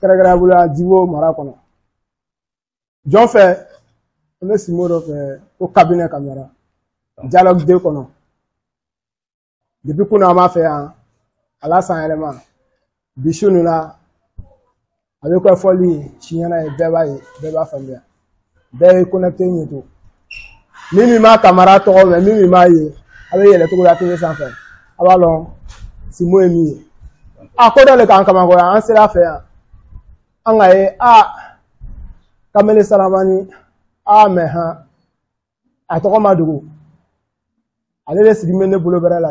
kɛrɛkɛrɛnya wala Divo mara kɔnɔ jɔn fɛ an bɛ simo dɔ fɛ ko kabinɛ kamara dialogue de kɔnɔ depuis kunu an b'a fɛ yan a la san yɛlɛma bi su nin na a bɛ kɛ fɔli siɲɛna ye bɛɛ b'a ye bɛɛ b'a faamuya bɛɛ ye kɔnɛte ɲɛ to min min ma kamara tɔgɔ mɛn min min m'a ye a bɛ yɛlɛ togola tele sanfɛ a b'a dɔn simo ye min ye a ko dɔ le k'an kabakoya an sera a fɛ yan an k'a ye a kamalen saramani a mɛ han a tɔgɔ ma dogo ale de sigilen bɛ ne bolo bɛrɛ la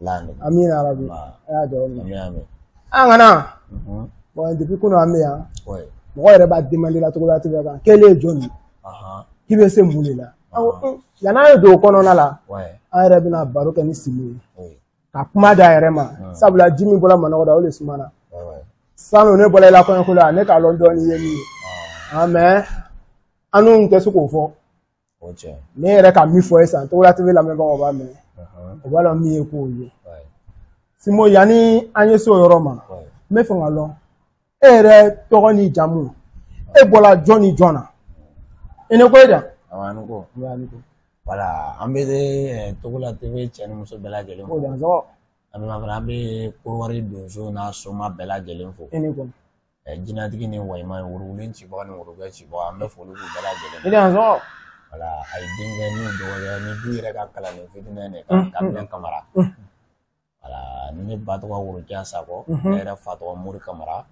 laani amina rabi Nba. a y'a jɔ min Amina, amina. an kana Mhm. bɔn depuis kunu an bɛ yan Ouais. mɔgɔ yɛrɛ b'a demande la togola tebe kan k'ele ye jɔn ye Aha. k'i bɛ se mun de la an ko un, yani an ye don o kɔnɔna la Ouais. an yɛrɛ bɛna baro kɛ ni simo ye Oui. ka kuma d'a yɛrɛ ma sabula ji min bɔra manɔgɔ la o de sumana Ouais, ouais. sinɔn ne bɔra i la kɔɲɔko la ne k'a lɔn dɔɔni ye min ye Ah, mais annu tɛ se k'o fɔ ne yɛrɛ ka min fɔ ye san togola tebe lamɛnbagaw b'a mɛn o b'a dɔn min ye k'o ye simo yanni an ye se o yɔrɔ ma n bɛ fɛ k'a lɔn e yɛrɛ tɔgɔ ni jamu e bɔla jɔn ni jɔn na i ni ko e da wala an bɛ eh, togola tebe cɛ ni muso bɛɛ lajɛlen fo an bɛ an bɛ korowari donso n'a soma bɛɛ lajɛlen fo jinɛtigi ni walima worobilen cibaga ni worogbɛ cibaga an bɛ foli k'u bɛɛ lajɛlen ye wala a ye denkɛ ni dɔgɔkɛ ni du yɛrɛ ka kalanden fitinin de kan kabinɛ kamara wala ne ba tɔgɔ worokiya sakɔ ne yɛrɛ fa tɔgɔ mori kamara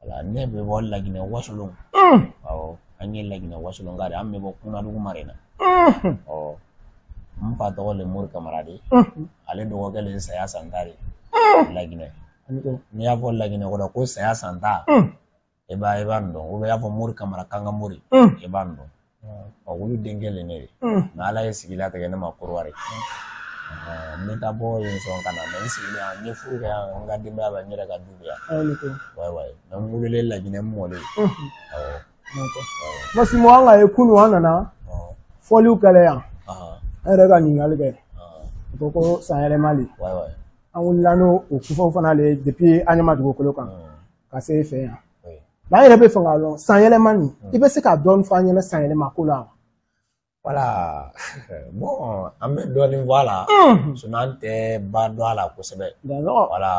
wala ne bɛ bɔ laginɛ wasolon awɔ an ye laginɛ wasolon ka de an bɛ bɔ kunadugu mara in na ɔ n fa tɔgɔ le mori kamara de ale dɔgɔkɛ le saya santa de laginɛ n'i y'a fɔ laginɛ kɔnɔ ko saya santa i b'a i b'a dɔn ou bien i y'a fɔ mori kamara kanka mori i b'a dɔn olu denkɛ le ne ye nka ala ye sigi latigɛ ne ma korowari n bɛ taa bɔ yen sɔn ka na mɛ n sigilen yan n ye furu kɛ yan n ka denbaya bɛ n yɛrɛ ka du bɛ yan wayi wayi mɛ n wololen laginɛ n mɔlen awɔ parce que simo an k'a ye kunu an nana fɔliw kɛ le yan an yɛrɛ ka ɲininkali kɛ u ko ko san yɛlɛma de wayi wayi an wulila n'o o kufaw fana le ye depuis anyama dugukolo kan ka se fɛ yan an yɛrɛ bɛ fɛ k'a dɔn san yɛlɛma nin i bɛ se k'a dɔɔni fɔ an ɲɛna san yɛlɛma ko la wala bɔn an bɛ dɔɔni fɔ a la sinɔn an tɛ ba dɔn a la kosɛbɛ wala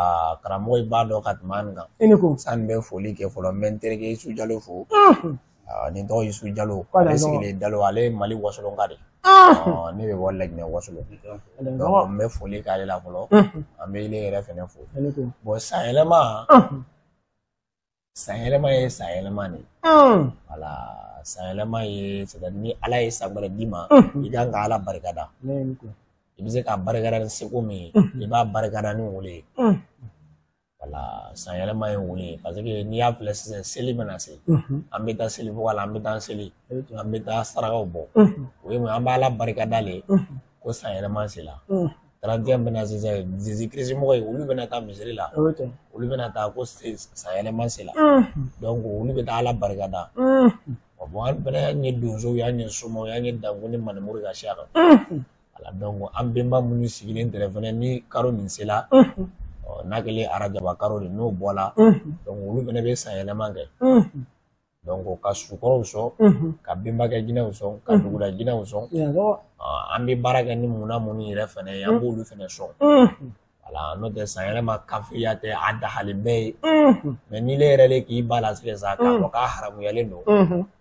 karamɔgɔ ye ba dɔn ka tɛmɛ an kan i ni ko san n bɛ foli kɛ fɔlɔ n bɛ n terikɛ Isu Jalo fo Ah, nin tɔgɔ Yusu Jalo K'a da ale ɲɔgɔn. sigilen Daloa ale ye Mali wasolonka de ye. Ɔɔ, ne bɛ bɔ Laginɛ wasolon. Donc, n bɛ foli k'ale la fɔlɔ. An bɛ ile yɛrɛ fɛnɛ fo. Ale ko. Bon sanyɛlɛma, sanyɛlɛma ye sanyɛlɛma de ye. Voilà, sanyɛlɛma ye c'est à dire ni Ala ye san wɛrɛ d'i ma, i kan ka Ala barikada. Ne ye nin ko. I bɛ se k'a barikada ni seko min ye, i b'a barikada ni o le ye. voilà san yɛlɛma ye o le ye parce que n'i y'a filɛ sisan seli bɛna se an bɛ taa seli bɔ la an bɛ taa seli an bɛ taa sarakaw bɔ o ye an b'Ala barika da le ko san yɛlɛma sela trente et un bɛna sisan Jésus Christ mɔgɔ ye olu bɛna taa misiri la olu bɛna taa ko san yɛlɛma sela donc olu bɛ taa ala barika da bon an fɛnɛ y'an ye donsow y'an ye somaw y'an ye dankun ni manimuru ka siya kan Voilà donc an benba minnu sigilen tɛrɛ fɛnɛ ni karo nin sela n'a kɛlen arajaba karo de n'o bɔla donc olu fɛnɛ bɛ san yɛlɛma kɛ donc ka sukɔrɔw sɔn ka benbakɛ jinɛw sɔn ka dugula jinɛw sɔn an bɛ baara kɛ ni muna minnu yɛrɛ fɛnɛ ye an b'olu fɛnɛ sɔn voilà n'o tɛ san yɛlɛma kafiriya tɛ a dahalen bɛɛ ye mais n'ile yɛrɛ le k'i ba latigɛ sa k'a fɔ k'a haramuyalen don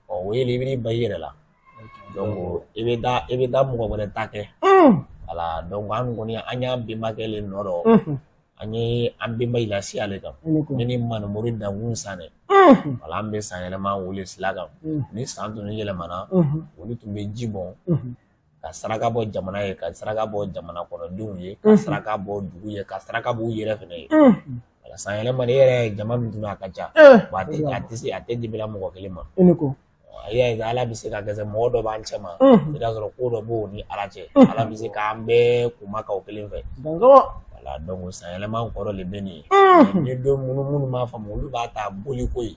ɔ o ye i b'i ba i yɛrɛ la donc i bɛ taa mɔgɔ wɛrɛ ta kɛ voilà donc an kɔni an y'an benbakɛ le nɔ dɔ an ye an benba lasiya le kan ne ni manumori dankun Sanɛ voilà an bɛ san yɛlɛma o le sila kan ni san tun yɛlɛmana olu tun bɛ ji bɔn ka saraka bɔ jamana ye ka saraka bɔ jamana kɔnɔdenw ye ka saraka bɔ dugu ye ka saraka bɔ u yɛrɛ fɛnɛ ye voilà san yɛlɛma nin yɛrɛ jama min tun bɛ a ka ca wa a tɛ a tɛ se a tɛ dibila mɔgɔ kelen ma i ni ko a y'a ye ala bɛ se ka kɛ mɔgɔ dɔ b'an cɛ ma i b'a sɔrɔ ko dɔ b'o ni ala cɛ ala bɛ se k'an bɛɛ kunmaka o kelen fɛ voilà donc san yɛlɛma kɔrɔ de bɛ nin ye ni don minnu minnu m'a faamu olu b'a ta boliko ye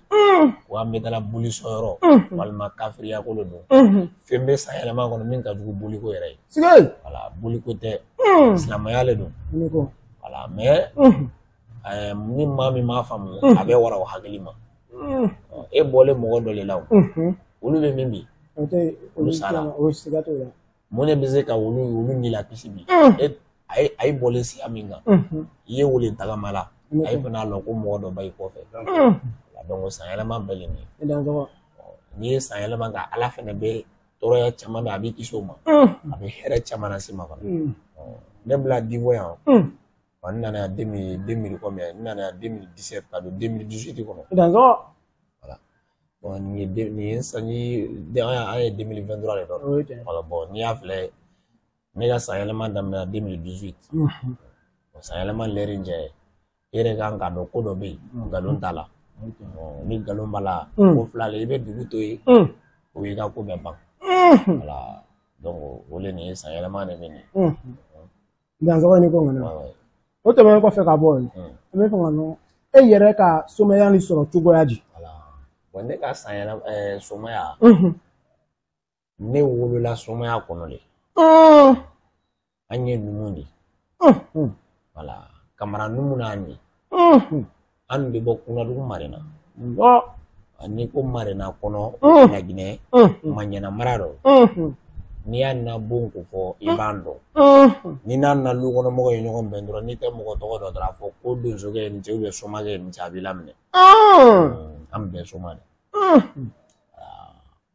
ko an bɛ taa boli sɔyɔrɔ walima kafiriya ko le don fɛn bɛ san yɛlɛma kɔnɔ min ka jugu boliko yɛrɛ ye voilà boliko tɛ hmm. silamɛya le don voilà mais hmm. eh, ni maa min m'a faamu hmm. a bɛ wara o hakili ma e bɔlen mɔgɔ dɔ le la o olu bɛ min bi olu sara mun de bɛ se ka olu olu ni lakisi bi a ye a ye bɔlen siya min kan i ye o le tagama la a ye fana lɔn ko mɔgɔ dɔ ba i kɔfɛ donc sanyɛlɛma bɛɛ le nin ye n'i ye sanyɛlɛma kɛ ala fana bɛ tɔɔrɔya caman bɛ a b'i kisi o ma a bɛ hɛrɛ caman lase ma fana ne bila Divo yan wa n nana deux mille deux mille combien n nana deux mille dix-sept ka don deux mille dix-huit kɔnɔ nin ye nin ye sanji an ye deux mille vingt-trois de dɔ voilà bon n'i y'a filɛ ne ka san yɛlɛma daminɛna deux mille dix-huit san yɛlɛma lɛri jɛ e yɛrɛ kan k'a dɔn ko dɔ bɛ yen nkalon t'a la ni nkalon b'a la ko fila la i bɛ dugu to yen o y'i ka ko bɛɛ ban voilà o de nin ye san yɛlɛma de bɛ nin dansɔgɔ ni ko kɔnɔ o tɛmɛnen kɔfɛ ka bɔ yen an b'a fɛ k'a dɔn e yɛrɛ ka somaya nin sɔrɔ cogoya di ne ka san yɛlɛma somaya ne wolola somaya kɔnɔ de an ye numu de voilà kamara numu n'an ye an bɛ bɔ kunadugu marina n'i ko marina kɔnɔ laginɛ maɲana mara dɔ n'i y'an na bon ko fɔ i b'a dɔn ni n'an na lu kɔnɔ mɔgɔ ye ɲɔgɔn bɛn dɔrɔn n'i tɛ mɔgɔ tɔgɔ dɔn dɔrɔn a fɔ ko donsokɛ i ni ce ou bien somakɛ i ni ce a b'i laminɛ an bɛɛ soma de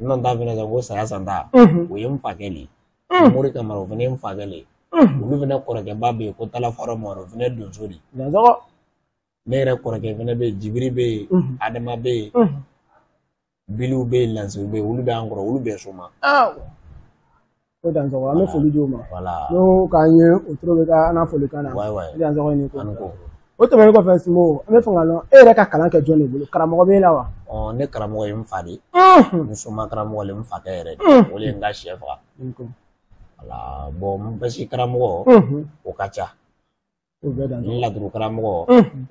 n nana taa fɛnɛ kɛ ko saya san ta o ye n fakɛ de ye mori kamara o fɛnɛ ye n fakɛ de ye olu fɛnɛ kɔrɔkɛba bɛ yen ko talaforo mɔrɔ o fɛnɛ donso de ne yɛrɛ kɔrɔkɛ fɛnɛ bɛ yen jibiri bɛ yen adama bɛ yen biliw bɛ yen lansiw bɛ yen olu bɛ an kɔrɔ olu bɛɛ soma ko dansɔgɔ an bɛ foli di o ma n'o k'an ye o toro bɛ ka an foli kan na dansɔgɔ i ni ko o tɛmɛnen kɔfɛ sinbo an b'a fɛ k'a dɔn e yɛrɛ ka kalan kɛ jɔn de bolo karamɔgɔ b'e la wa ne karamɔgɔ ye n fa de n soma karamɔgɔ le n fakɛ yɛrɛ de o de ye n ka sɛ faga voilà bon n basi karamɔgɔ o ka ca n laturu karamɔgɔ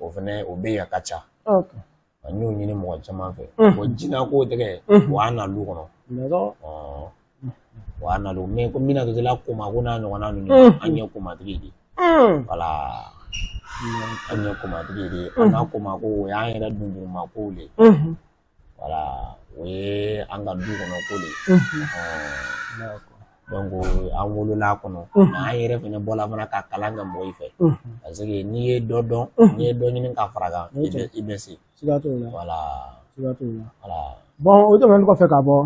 o fana o bɛ yen a ka ca n y'o ɲini mɔgɔ caman fɛ o jina ko tɛgɛ o y'an na lu kɔnɔ o y'an na lu mais ko mina dɔtila koma ko n'a ɲɔgɔnna ninnu an ye komatigi de voilà an ye komatigi de an na koma ko o y'an yɛrɛ dunduruma kow de voilà o ye an ka du kɔnɔ ko de ye donc an wolola a kɔnɔ an yɛrɛ fana bɔla fana ka kalan kɛ mɔgɔw fɛ parce que n'i ye dɔ dɔn n'i ye dɔ ɲini ka fara kan i bɛ i bɛ se siga t'o la voilà siga t'o la voilà bon o tɛmɛnen kɔfɛ ka bɔ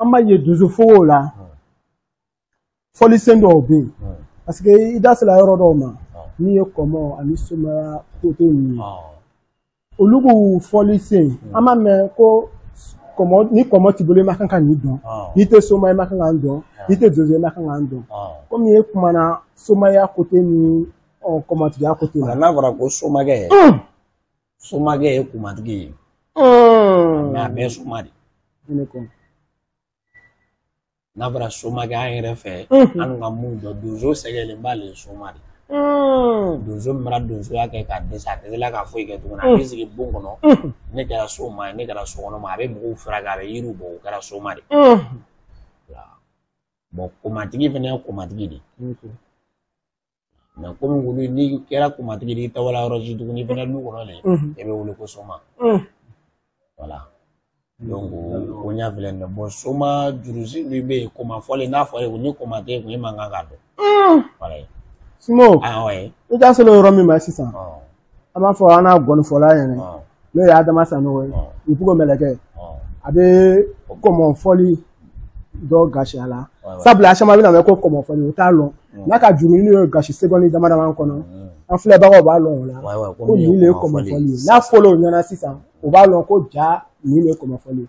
an b'a ye donso fogow la fɔlisen dɔw bɛ yen parce que i da sera yɔrɔ dɔw ma n'i ye kɔmɔ ani somaya kote ninnu olu b'u fɔli sen an b'a mɛn ko ni kɔmɔ t'i bolo i ma kan ka nin dɔn n'i tɛ soma i ma kan ka nin dɔn n'i tɛ donso i ma kan ka nin dɔn komi e kumana somaya kote ni kɔmɔtigiya kote la n'a fɔra ko somakɛ somakɛ ye komatigi ye mais a bɛɛ soma de n'a fɔra somakɛ an yɛrɛ fɛ an ka mun dɔn donso sɛgɛlen b'a le soma de donso min mana donsoya kɛ ka dɛsɛ a tɛ se la ka foyi kɛ tuguni a bɛ sigi bon kɔnɔ ne kɛra soma ye ne kɛra sokɔnɔma a bɛ mɔgɔw furakɛ a bɛ yiriw bɔ o kɛra soma de bon komatigi fana ye komatigi de mais komi wulu n'i kɛra komatigi de i tɛ wa la yɔrɔ si tuguni fana du kɔnɔ de e bɛ wele ko soma voilà donc o ɲa filɛ nin ye bon soma jurusi min bɛ yen komafɔli n'a fɔra ye ko ni koma t'i kun e man kan k'a dɔn voilà ye sinbo awɔ i da selen yɔrɔ min ma sisan an b'a fɔ an na ngɔnifɔla ɲɛna n'o ye adama sanogo ye ipugo mɛlɛkɛ a bɛ kɔmɔfɔli dɔ gasi a la sabula a caman bɛna mɛn ko kɔmɔfɔli o t'a lɔn n'a ka juru n'o ye gasi seconde dama dama kɔnɔ an filɛbagaw b'a lɔn o la ko nin de ye kɔmɔfɔli ye n'a fɔla o ɲɛna sisan o b'a lɔn ko ja nin de ye kɔmɔfɔli ye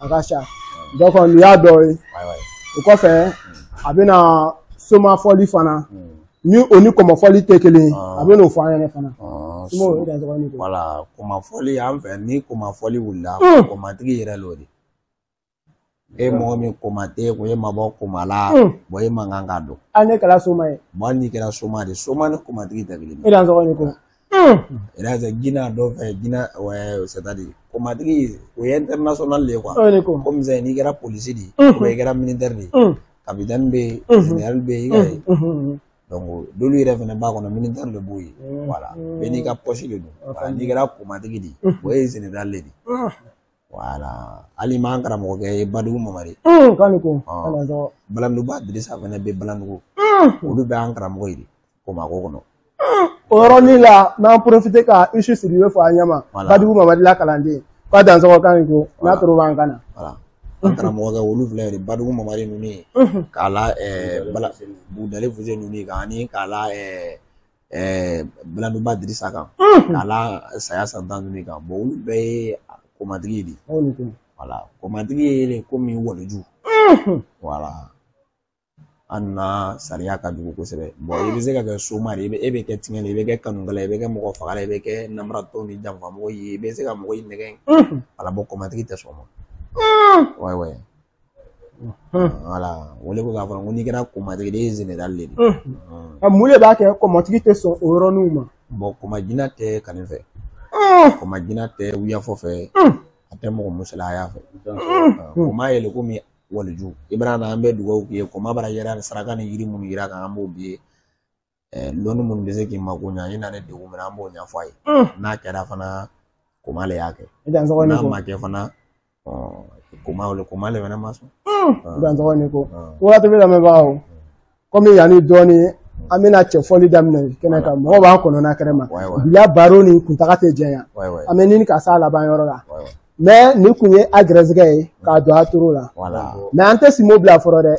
a ka ca dɔ kɔni nin y'a dɔ ye o kɔfɛ a bɛna somafɔli fana ni o ni kɔmɔfɔli tɛ kelen ye a bɛn'o fɔ an ɲɛna fana sinbo e dansɔgɔ ni ko voilà kɔmɔfɔli an fɛ ni kɔmɔfɔli wulila kɔmatigi yɛrɛ l'o de e mɔgɔ min koma t'i kun e mabɔ koma la bon e man kan ka dɔn hali n'e kɛra soma ye bon hali n'i kɛra soma de soma ni komatigi tɛ kelen ye e dansɔgɔ ni ko Iraza Gina dɔ fɛ Gina ouais c'est-à-dire komatigi o ye international de ye quoi aw ni ko comme ça n'i kɛra polisi de ye ou bien i kɛra militaire de ye capitaine bɛ yen général bɛ yen i ka ye donc dolu yɛrɛ fana b'a kɔnɔ militaire de b'o ye voilà bɛɛ n'i ka poste de don voilà n'i kɛra komatigi de ye o ye général de ye voilà hali m'an karamɔgɔkɛ ye Badugu Mamari k'an ni ko balanduguba Dirisa fana bɛ balandugu olu bɛ an karamɔgɔ ye de komako kɔnɔ o yɔrɔnin la n'an profiter ka isu sidibe fo an ɲɛma badugu mamari la kalanden k'a dansɔgɔ k'a ni ko n'a toro b'an kan na an karamɔgɔkɛ olu filɛ de badugu mamari ninnu ye k'a la bala budale fuse ninnu ye kan ani k'a la balanduguba dirisa kan k'a la saya santan ninnu kan bon olu bɛɛ ye komatigi de voilà komatigi ye komi waliju voilà an na sariya ka jugu kosɛbɛ i bɛ se ka kɛ soma de ye e bɛ kɛ tiɲɛn de ye i bɛ kɛ kanukɛla ye i bɛ kɛ mɔgɔ fagala ye i bɛ kɛ namaratɔ ni janfamɔgɔ ye i bɛ se ka mɔgɔ in nɛgɛn voilà bon kɔmatigi tɛ sɔn ma ouais ouais voilà o le ko k'a fɔ ko n'i kɛra kɔmatigi de ye général de ye a mun de b'a kɛ kɔmatigi tɛ sɔn o yɔrɔninw ma bon kɔmajina tɛ kanni fɛ kɔmajina tɛ wuyafɔ fɛ a tɛ mɔgɔ musalaya fɛ kɔma ye le komi waliju i bɛna na an bɛ dugawu k'i ye koma bara yɛrɛ ni saraka ni yiri minnu yira kan an b'o b'i ye lɔnni minnu bɛ se k'i mako ɲa i nanen degun min na an b'o ɲɛfɔ a ye n'a kɛra fana koma le y'a kɛ n'a ma kɛ fana koma le koma le fana ma sɔn i dansɔgɔ ni ko waati bɛɛ lamɛnbagaw komi yanni dɔɔni an bɛna cɛfɔli daminɛ kɛnɛ kan mɔgɔw b'an kɔnɔna kɛnɛ ma bila baro nin kuntaga tɛ janya an bɛ ɲini ka s'a laban yɔrɔ la mais nin kun ye a garisɛgɛ ye k'a don a toro la mais an tɛ simo bila fɔlɔ dɛ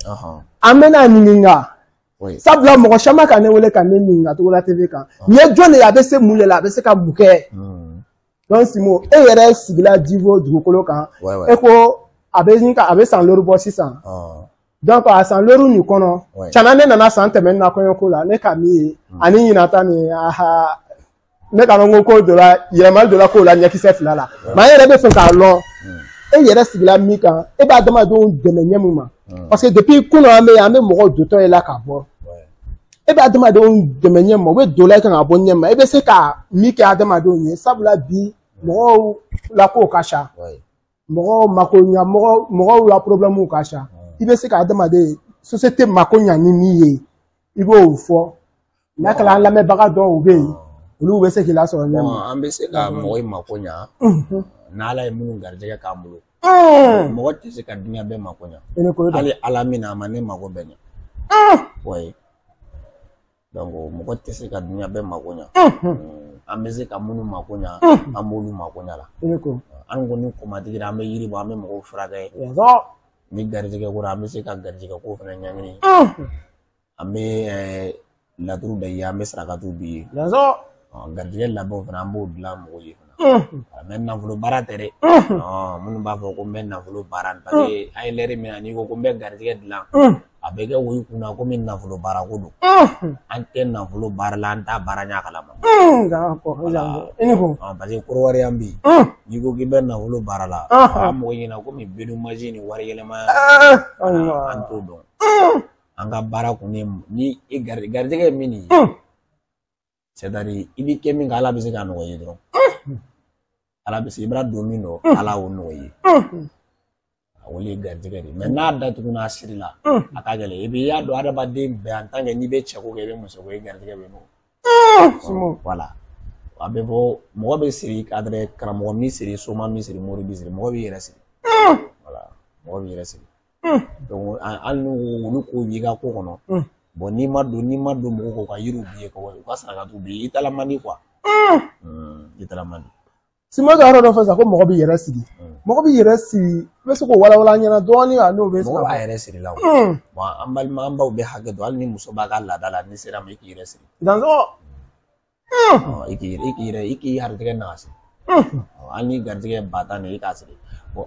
an bɛna ɲininka sabula mɔgɔ caman ka ne wele ka ne ɲininka togola tv kan nin ye jɔn de ye a bɛ se mun de la a bɛ se ka mun kɛ donc simo e yɛrɛ sigila divo dugukolo kan e ko a bɛ ɲini ka a bɛ san lori bɔ sisan donc a san lori nin kɔnɔ cana ne nana san tɛmɛnen na kɔɲɔko la ne ka min ye hmm. ani ɲinan ta nin aha ne ka dɔn ko dɔ la yɛlɛmali dɔ la k'o la ɲɛkisɛ fila la mais an yɛrɛ bɛ fɛ k'a lɔn hmm. e yɛrɛ sigila min kan e bɛ adamadenw dɛmɛ ɲɛ min ma hmm. parce que depuis kunun an bɛ yan an bɛ mɔgɔw dontɔ ye la ka bɔ e bɛ adamadenw dɛmɛ ɲɛ ma u bɛ don la i kan ka bɔ ɲɛ ma i bɛ se ka min kɛ adamadenw ye sabula bi mɔgɔw la kow ka ca mɔgɔw mako ɲa mɔgɔ mɔgɔw la porobilɛmuw ka ca i bɛ se ka adamaden société mako ɲa ni min ye i b'o fɔ n'a kɛra an lamɛnbaga dɔw bɛ yen olu bɛ se k'i lasɔrɔ ɲɛ ma an bɛ se ka mɔgɔ in mako ɲa n'ala ye minnu garijɛgɛ k'an bolo mɔgɔ tɛ se ka duniya bɛɛ mako ɲa hali ala min a ma ne mako bɛɛ ɲa ouais donc mɔgɔ tɛ se ka duniya bɛɛ mako ɲa an bɛ se ka minnu mako ɲa an b'olu mako ɲa la an kɔni komatigiya an bɛ yiri bɔ an bɛ mɔgɔw furakɛ ni garijɛgɛ ko an bɛ se ka garijɛgɛ ko fana ɲɛɲini An bɛ laturu bɛ ye an bɛ sarakatu b'i ye garijɛgɛ labɛnw fana an b'o dilan mɔgɔw ye fana mais nafolo baara tɛ dɛ minnu b'a fɔ ko n bɛ nafolo baara ta an ye lɛri min na n'i ko ko n bɛ garijɛgɛ dilan a bɛ kɛ o kun na komi nafolo baara ko don an tɛ nafolo baara la an t'a baara ɲɛ kalama parce que kɔdiwari yan bi n'i ko k'i bɛ nafolo baara la a mɔgɔ ɲɛna komi bedou magique ni wari yɛlɛma an t'o dɔn an ka baara kun ye ni e gari garijɛgɛ ye min ye c'est-à-dire i b'i kɛ min kan ala bɛ se k'a nɔgɔya i ye dɔrɔn ala bɛ se i b'a don min dɔn ala y'o nɔgɔya i ye a wele ye garijɛgɛ de mais n'a datugu n'a siri la a ka gɛlɛn et puis i y'a dɔn adamaden bɛɛ en tant que n'i bɛ cɛko kɛ i bɛ musoko kɛ i garijɛgɛ bɛ nɔgɔ voilà a bɛ fɔ mɔgɔ bɛ siri c'est-à-dire karamɔgɔ b'i siri soma b'i siri mori b'i siri mɔgɔ b'i yɛrɛ siri voilà mɔgɔ b'i yɛrɛ siri Hmm. Donc hali n'olu ko b'i ka ko kɔnɔ. Hmm. Bon n'i ma don n'i ma don mɔgɔ k'u ka yiriw b'i ye ka u ka saraka t'u b'i ye i taala man di quoi. Hmm. I taala man di. Simo ka yɔrɔ dɔ fɔ sisan ko mɔgɔ b'i yɛrɛ siri. Mɔgɔ b'i yɛrɛ siri i bɛ se k'o walawala an ɲɛna dɔɔni wa n'o bɛ se ka. Mɔgɔ b'a yɛrɛ siri la o. Bon an balima an baw bɛ hakɛ to hali ni muso b'a ka laada la n'i sera a ma i k'i yɛrɛ siri. Dansɔgɔ. i k'i i k'i yɛrɛ i k'i garijɛgɛ nagasi hali ni garijɛgɛ ba tan de i k'a siri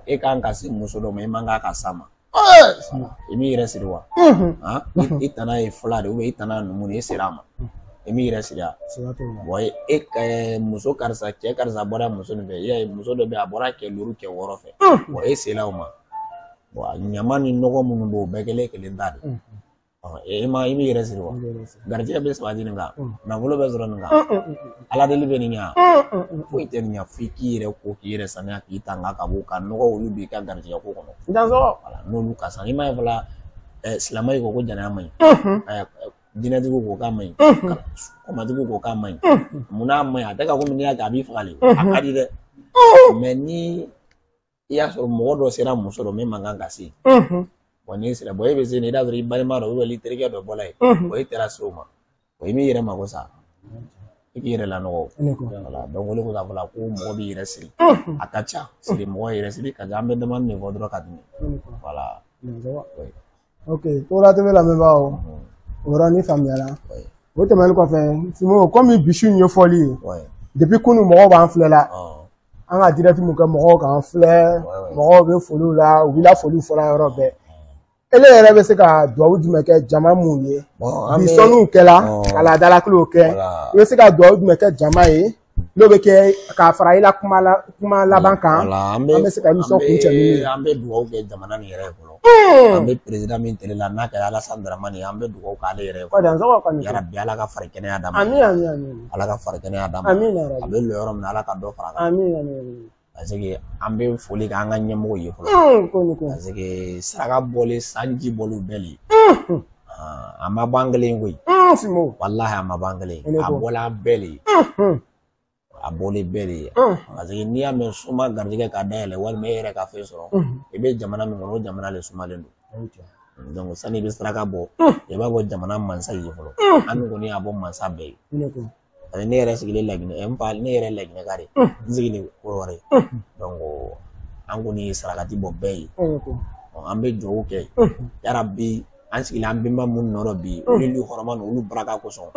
e kan ka se muso dɔ ma i man kan ka s'a ma i m'i yɛrɛ siri wa i tana ye fila de i tana numu de i sera a ma i m'i yɛrɛ siri e ka muso karisa cɛ karisa bɔra muso nin fɛ i y'a ye muso dɔ bɛ a bɔra kɛ duuru kɛ wɔɔrɔ fɛ e sera o ma ɲama ni nɔgɔ minnu b'o bɛɛ kelen kelen ta de e ma i yɛrɛ siri wa garijɛgɛ bɛ sabati nin kan nafolo bɛ sɔrɔ nin kan ala deli bɛ nin ɲa foyi tɛ nin ɲa f'i k'i yɛrɛ ko k'i yɛrɛ saniya k'i tanga ka bɔ ka nɔgɔ olu b'i ka garijɛgɛ ko kɔnɔ n'olu ka san i m'a ye fɔla silamɛ ko ko jɛnɛya man ɲi diinɛtigiw ko k'a man ɲi kɔmatigiw ko k'a man ɲi munna a man ɲi a tɛ ka komi n'i y'a kɛ a b'i faga de a ka di dɛ mais ni i y'a sɔrɔ mɔgɔ dɔ sera muso dɔ min man kan ka se bon n'i sera bon e bɛ se nin i y'a sɔrɔ i balima dɔ ou bien i terikɛ dɔ bɔla yen bon e taara se o ma o i m'i yɛrɛ mago sa i k'i yɛrɛ lanɔgɔ voilà donc o de ko k'a fɔ la ko mɔgɔ b'i yɛrɛ siri a ka ca siri mɔgɔ yɛrɛ siri ka ca an bɛ damanin fɔ dɔrɔn ka tɛmɛ voilà ok Togola TV lamɛnbaaw o yɔrɔnin faamuyara o tɛmɛnen kɔfɛ Simo komi bi su in ye foli ye depuis kunu mɔgɔw b'an filɛ la an ka direct mun kɛ mɔgɔw k'an filɛ mɔgɔw bɛ foliw la u b'i la foliw fɔla yɔrɔ bɛɛ ele yɛrɛ bɛ se ka duwawu jumɛn kɛ jama mun ye bi sɔnniw kɛla ka laadalakilew kɛ i bɛ se ka duwawu jumɛn kɛ jama ye n'o bɛ kɛ k'a fara i la kuma la kuma laban kan an bɛ se ka émission kuncɛ min an bɛ dugawu kɛ jamana nin yɛrɛ ye fɔlɔ an bɛ président min tele la n'a kɛra Alassane Dramane ye an bɛ dugawu k'ale yɛrɛ ye yarabi Ala ka fari kɛnɛya d'a ma Ala ka fari kɛnɛya d'a ma a bɛ lɔ yɔrɔ min na Ala ka dɔ fara a kan. parce que an bɛ foli kɛ an ka ɲɛmɔgɔ ye fɔlɔ parce que saraka bɔlen sanji bɔlen bɛɛ le a ma bɔ an kelen ye koyi walahi a ma bɔ an kelen ye a bɔla an bɛɛ le ye a bɔlen bɛɛ de ye parce que n'i y'a mɛn suma garijɛgɛ ka dayɛlɛ walima e yɛrɛ ka fɛn sɔrɔ i bɛ jamana min kɔnɔ o jamana le sumalen don donc sani i bɛ saraka bɔ i b'a bɔ jamana mansa ye fɔlɔ an kɔni y'a bɔ mansa bɛɛ ye ani ne yɛrɛ sigilen laginɛ ɛ, n fa ne yɛrɛ laginɛka de ye. n sigilen kɔrɔwari ye donc an kɔni ye sarakati bɔ bɛɛ ye Ɔ, an bɛ dugawu kɛ yarabi an sigilen an bɛnba minnu nɔ rɔ bi olu ni hɔrɔma ninnu olu baraka kosɔn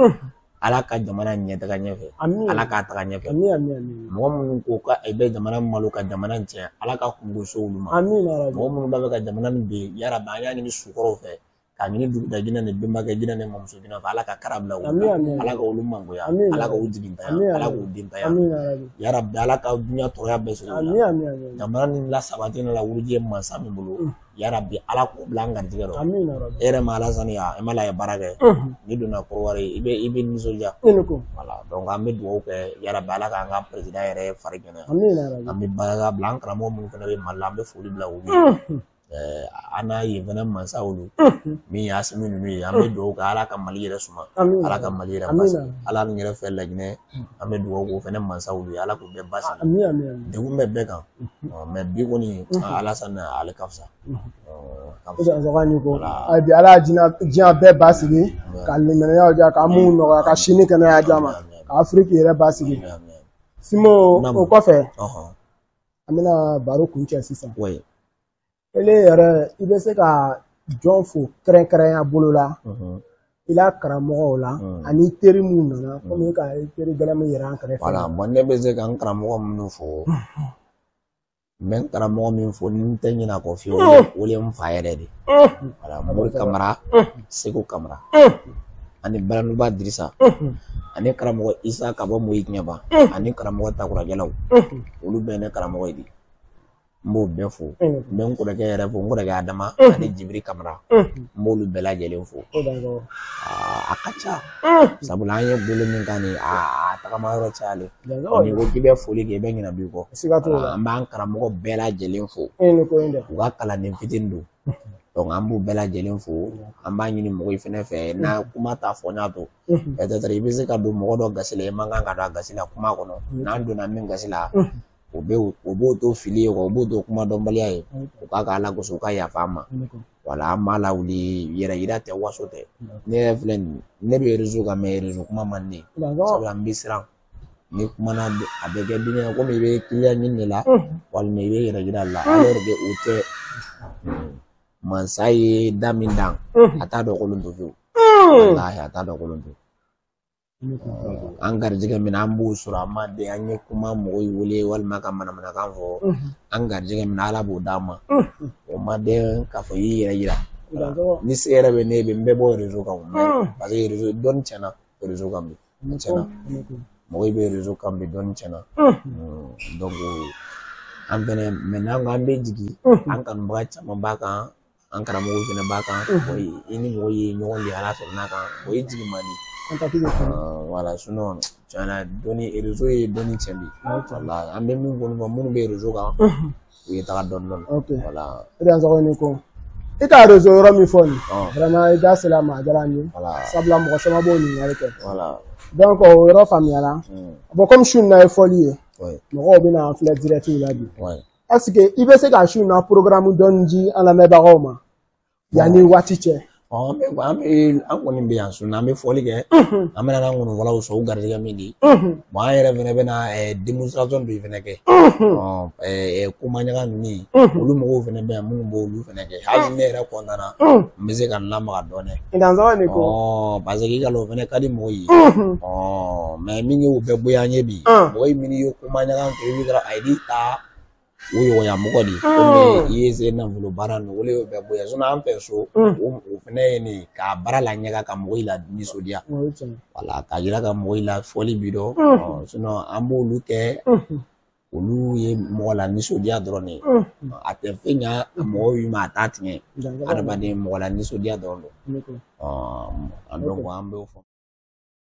ala ka jamana ɲɛ taga ɲɛfɛ Amina. ala k'a taga ɲɛfɛ Amina, amina, amina. mɔgɔ minnu ko ka i bɛ jamana malo ka jamana in tiɲɛ ala ka kunko so olu ma Amina, ya Rabbi. mɔgɔ minnu b'a fɛ ka jamana nin bin yarabi an y'a ɲini sukɔrɔw fɛ ka ɲini duguda jinɛ ni bɛnbakɛ jinɛ ni mamuso jinɛ fɛ ala ka kara bila u la ala ka olu mangoya ala ka u jigintanya ala k'u dentanya yarabi ala ka dunya tɔɔrɔya bɛɛ sɔrɔ u la jamana nin lasabati la wuruji ye mansa min bolo mm. yarabi ala k'o bila an garijɛgɛ rɔ e yɛrɛ ma alasani a e ma la ye baara kɛ mm-hmm. n'i donna kɔrɔwari i bɛ i bɛ nisɔndiya voilà donc an bɛ dugawu kɛ yarabi ala k'an ka perezida yɛrɛ fari kɛnɛ an bɛ barika bila an karamɔgɔ minnu fana bɛ mali la an bɛ foli bila u ye mm-hmm. Eh, an n'a ye fana mansa olu min ye asimi ninnu ye an bɛ dugawu kɛ ala ka mali yɛrɛ suma ala ka mali yɛrɛ basi voilà ne yɛrɛ fɛ laginɛ an bɛ dugawu k'o fana mansa olu ye ala k'u bɛɛ basi degun bɛ bɛɛ kan mais bi kɔni alasani ale ka fisa bi ala diɲɛ bɛɛ basigi ka limaniyaw diya ka mun nɔgɔya ka si ni kɛnɛya di an ma ka afiriki yɛrɛ basigi simo o kɔfɛ an bɛna baro kuncɛ sisan ele yɛrɛ i bɛ se ka jɔn fo kɛrɛnkɛrɛnya bolo la i la karamɔgɔw la ani teri minnu nana komi ka teri gɛlɛn min yɛrɛ an kɛrɛfɛ voilà bon ne bɛ se ka n karamɔgɔ minnu fo n bɛ n karamɔgɔ min fo ni n tɛ ɲinɛ a kɔ fiyewu o ye n fa yɛrɛ de voilà mori kamara segu kamara ani balanuba dirisa ani karamɔgɔ isa ka bɔ mɔ ɲɛba ani karamɔgɔ takurajɛlaw olu bɛɛ ne karamɔgɔ ye de n b'o bɛɛ fo n bɛ n kɔrɔkɛ yɛrɛ fo n kɔrɔkɛ adama ani jibiri kamara n b'olu bɛɛ lajɛlen fo a ka ca sabula an ye bolo min kan nin a tagama yɔrɔ cayalen n'i ko k'i bɛ foli kɛ i bɛ ɲinɛ b'i kɔ an b'an karamɔgɔ bɛɛ lajɛlen fo u ka kalanden fitinin don donc an b'u bɛɛ lajɛlen fo an b'a ɲini mɔgɔw fɛnɛ fɛ n'a kuma ta fɔ ɲa to peut-être i bɛ se ka don mɔgɔ dɔ gasi la i man kan ka don a gasi la kuma kɔnɔ n'an donna min gasi la o bɛ o b'o to fili ye o b'o to kuma dɔnbaliya ye u k'a kɛ ala kosɔn u ka yafa an ma voilà an m'a lawuli yɛrɛ yira tɛ waso tɛ ne yɛrɛ filɛ nin ne bɛ rezo kan mais rezo kuma man di ne ye sabula n bɛ siran n'i kumana a bɛ kɛ dimi ye komi i bɛ kiliyan ɲini de la walima i bɛ yɛrɛ yira la alors que o tɛ mansa ye da min dan a t'a lankolon to fiyewu walahi a t'a lankolon to an garijɛgɛ min an b'o sɔrɔ an ma den an ye kuma mɔgɔ ye wele walima ka manamanakan fɔ an garijɛgɛ min ala b'o d'an ma o ma den k'a fɔ i y'i yɛrɛ yira ni se yɛrɛ bɛ ne bɛ n bɛ bɔ rezo kan parce que rezo dɔnni tiɲɛna rezo kan bi tiɲɛna mɔgɔ bɛ rezo kan bi dɔɔni tiɲɛna an fɛnɛ mɛ n'an ko an bɛ jigin an kanubaga caman b'a kan an karamɔgɔw fɛnɛ b'a kan i ni mɔgɔ ye ɲɔgɔn de ala sɔrɔ n'a kan o ye jigin man di wala tiɲɛna dɔnni rezo ye dɔnni cɛn bi an bɛ min fɔ minnu bɛ rezo kan u ye taga dɔɔni dɔɔni ok wala i dansɔgɔ ni ko i ka rezo yɔrɔ min fɔ nin ɔn vraiment i da sera a ma a diyara n ye wala sabula mɔgɔ caman b'o ɲininkali kɛ wala donc o yɔrɔ faamuyara mm, bon comme su in na ye fɔli ye oui mɔgɔw bɛna an filɛ direct la bi oui est ce que i bɛ se ka su in na programme dɔɔni di an lamɛnbagaw ma yanni waati cɛ an bɛ an bɛ an kɔni bɛ yan su in na an bɛ fɔli kɛ an bɛna na nkɔnifɔlaw sɔrɔ u garijɛgɛ min di bon an yɛrɛ fɛnɛ bɛna demonstration dɔ fɛnɛ kɛ komanyaga ninnu olu mɔgɔw fɛnɛ bɛ yan minnu b'olu fɛnɛ kɛ hali ne yɛrɛ kɔntanna n bɛ se ka n lamaga dɔɔnin parce que i k'a lɔn o fɛnɛ ka di mɔgɔw ye mɛ min y'o bɛɛ bɔ an ye bi mɔgɔ min y'o komanyaga kɛ i bɛ ka a ye ta o ɲɔgɔnya mɔgɔ de komi i ye se nafolo baara nin o le y'o bɛɛ bɔ yan sinɔn an fɛ so o fɛnɛ ye nin ka bara laɲaga ka mɔgɔw lanisɔndiya wala ka yira ka mɔgɔw la fɔli bi dɔn sinɔn an b'olu kɛ olu ye mɔgɔ lanisɔndiya dɔrɔn de ye a tɛ fɛn ɲa mɔgɔw yi ma a t'a tiɲɛ adamaden mɔgɔ lanisɔndiya dɔrɔn don an bɛ an b'o fɔ